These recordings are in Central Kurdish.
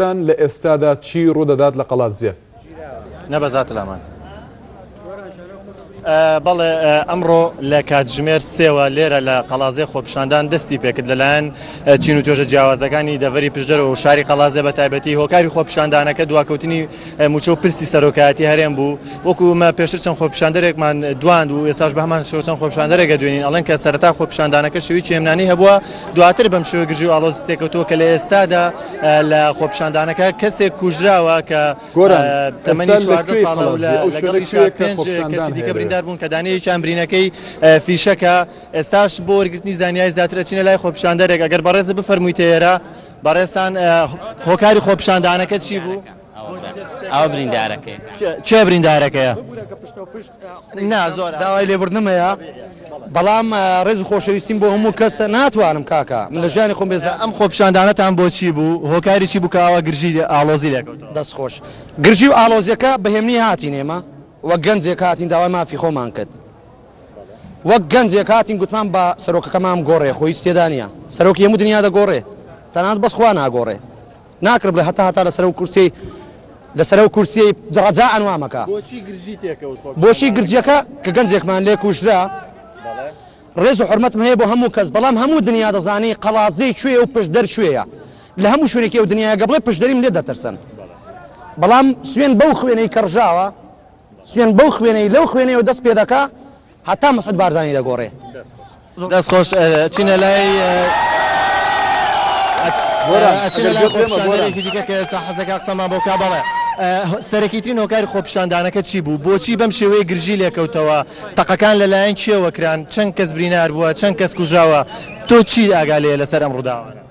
تان لە ئێستادا چی ڕوودەدات لە قەڵادزێ؟ نەبەزات لامان. بەڵێ ئەمڕۆ لە کاتژمێر سێوە لێرە لە قەڵازێ خۆپشاندان دەستی پێکرد لەلایەن چین و توێژە جیاوازەکانی دەڤری پشدەر و شاری قەڵازێ بە تایبەتی هۆکاری خۆپشاندانەکە دواکەوتنی موچە و پرسی سەرۆکایەتی هەرێم بوو وەکومە پێشتر چەند خۆپشاندەرێکمان دواند و ئێساش بە هەمان شۆچەند خۆپشاندەرێکە دوێنین ئەڵێن کە سەرتا خۆپشاندانەکە شوی چێمنانی هەبووە دواتر بەم شوێ گرژی و ئالۆز تێکەوتووە کە لە ئێستادا لە خۆپیشاندانەکە کەسێک کوژراوە کە تەمەنی چواردە ساڵە و لەگەڵی شا پێنج کەسی دیکە بریندار بوون کە دانەیەکیان برینەکەی فیشەکە ئێستاش بۆ وەرگرتنی زانیاری زیاتر ئەچینە لای خۆپیشاندەرێک ئەگەر بەڕێزت بفەرموویتە ئێرە بەڕێزتان هۆکاری خۆپیشاندانەکە چی بوو؟ ئەوە بریندارەکەی چێ بریندارەکەیە نا زۆر داوای لێبوردنم هەیە بەڵام ڕێز خۆشەویستیم بۆ هەموو کەسە ناتوانم کاکە من لە ژیانی خۆم بێزە ئەم خۆپشاندانەتان بۆچی بوو هۆکاری چی بکەوە گرژی ئالۆزی لێکەوت دەست خۆش گرژی و ئالۆزیەکە بەهێمنی هاتین ئێمە وەک گەنجێک هاتین داوای مافی خۆمان کرد وەک گەنجێک هاتین گوتمان بە سەرۆکەکەمان گۆڕێ خۆی تێدانە سەرۆکی هەموو دنیا دەگۆڕێ تەنات بەسخوا ناگۆڕێ ناکر بلە هەتا هەتا لەسەرەو کورسیەی لەسەرەو کورسیەی ڕەجائەن وا مەکە. بۆچی گرژی تێکەوت خۆ پیشاندان بۆچی نەکرد؟ گرژیەکە کە گەنجێکمان لێ کوژرا بەڵێ. ڕێز و حورمەتم هەیە بۆ هەموو کەس بەڵام هەموو دنیا دەزانێ قەڵادزێ کوێیە و پشدەر کوێیە لە هەموو شوێنێکی ئەو دنیایە گە بڵێ پشدەریم لێ دەترسن بەڵام سوێن بەو خوێنەی کە ڕژاوە سوێن بەو خوێنەی لەو خوێنەیەوە دەست پێ دەکا هەتا مسعود بارزانی دەگۆڕێ. دەست خۆش ئەچینە لای ئەچینە لای خۆپیشاندەرێکی دیکە کە ئێستا حەزەکە قسەمان بۆ کا بەڵێ سەرەکیترین هۆکاری خۆپیشاندانەکە چی بوو بۆچی بەم شێوەیە گرژی لێکەوتەوە تەقەکان لەلایەن کێوە کران چەند کەس برینار بووە چەند کەس کوژاوە تۆ چی ئاگا لێ لەسەر ئەم ڕووداوانە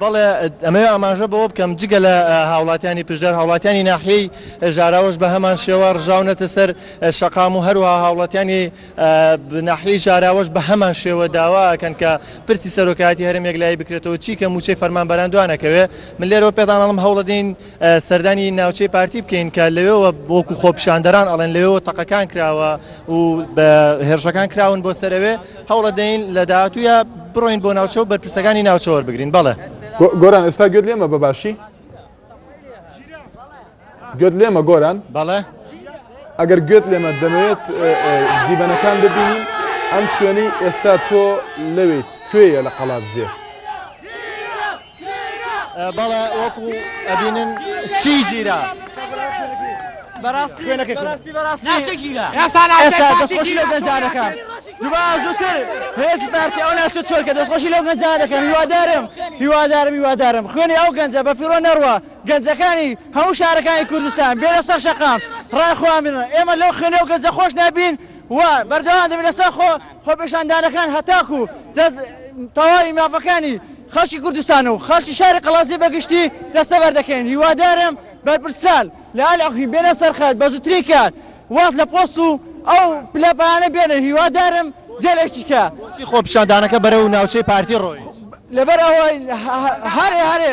بەڵێ، ئەمەوێ ئاماژە بەوە بکەم جگە لە هاوڵاتیانی پشدەر، هاوڵاتیانی ناحیەی ژاراوەش بە هەمان شێوە ڕژاونەتە سەر شەقام و هەروەها هاوڵاتیانی ناحیەی ژاراوەش بە هەمان شێوە داوا ئەکەن کە پرسی سەرۆکایەتی هەرێم یەکلایی بکرێتەوە، چیکە مووچەی فەرمانبەران دوانەکەوێ؟ من لێرەوە پێتان ئەڵێم هەوڵ ئەدەین سەردانی ناوچەی پارتی بکەین کە لەوێوە بۆکو خۆپیشاندەران ئەڵێن لەوێوە تەقەکان کراوە و بە هێرشەکان کراون بۆ سەرەوێ هەوڵە دەین لە داهاتووە بڕۆین بۆ ناوچە و بەرپرسەکانی ناوچەوەەر بگرین بەڵێ گۆران ئێستا گوێت لێمە بە باشی گوێت لێمە گۆران بەڵێ ئەگەر گوێت لێمە دەمەوێت دیبەنەکان دەبینی ئەم شوێنەی ئێستا تۆ لەوێت کوێیە لە قەڵات زێت بەڵێ وەکو ئەبینن چی گیرا بەڕاستی خوێنەکەی بەڕاستی بەڕاستی ناچە گیرا ئێستا ئێستا دەستخۆشی لەو گەنجانەکە دوبارە زووتر هێچ بارتی ئەو ناچە چۆرکە دەستخۆشی لەو گەنجانەکە هیوادارم هیوادارم هیوادارم خوێنی ئەو گەنجە بە فیڕۆ نەڕوە گەنجەکانی هەموو شارەکانی کوردستان بێنە سەر شەقام ڕای خۆیان بنن ئێمە لەو خوێنە و گەنجە خۆش نابین و بەردەوام دەبین لەسەر خۆ خۆپێشاندانەکان هەتاکو دەست تەواوی مافەکانی خەڵکی کوردستان و خەڵکی شاری قەڵادزێ بە گشتی دەستەبەر دەکەین، هیوادارم بەرپرسان لە ئەلعقمی بێنە سەرخەت بەزوترین کات واز لە پۆست و ئەو پلە پایانە بێنن هیوادارم جەل ئەیچی کە. بۆچی خۆپیشاندانەکە بەرەو ناوچەی پارتی ڕۆیشت؟ لەبەر ئەوەی هەرێ هەرێ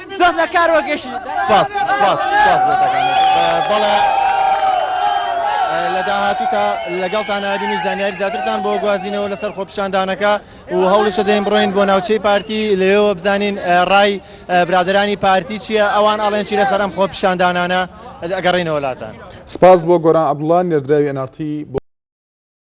دەست لە کار وەگەشی سپاس سپاس سپاس بۆ تەکانە بەڵێ لە داهاتوو تا لەگەڵتان نبین و زانیاری زیاترتان بۆ گوازینەوە لەسەر خۆپشاندانەکە و هەوڵیشە دەین بڕۆین بۆ ناوچەی پارتی لێەوە بزانین ڕای برادرانی پارتی چییە ئەوان ئاڵێن چی لەسەر ئەم خۆپشاندانانە ئەگەڕینەوەلاتان سپاس بۆ گۆران عبدڵان نێردراوی ئەنارتی بۆ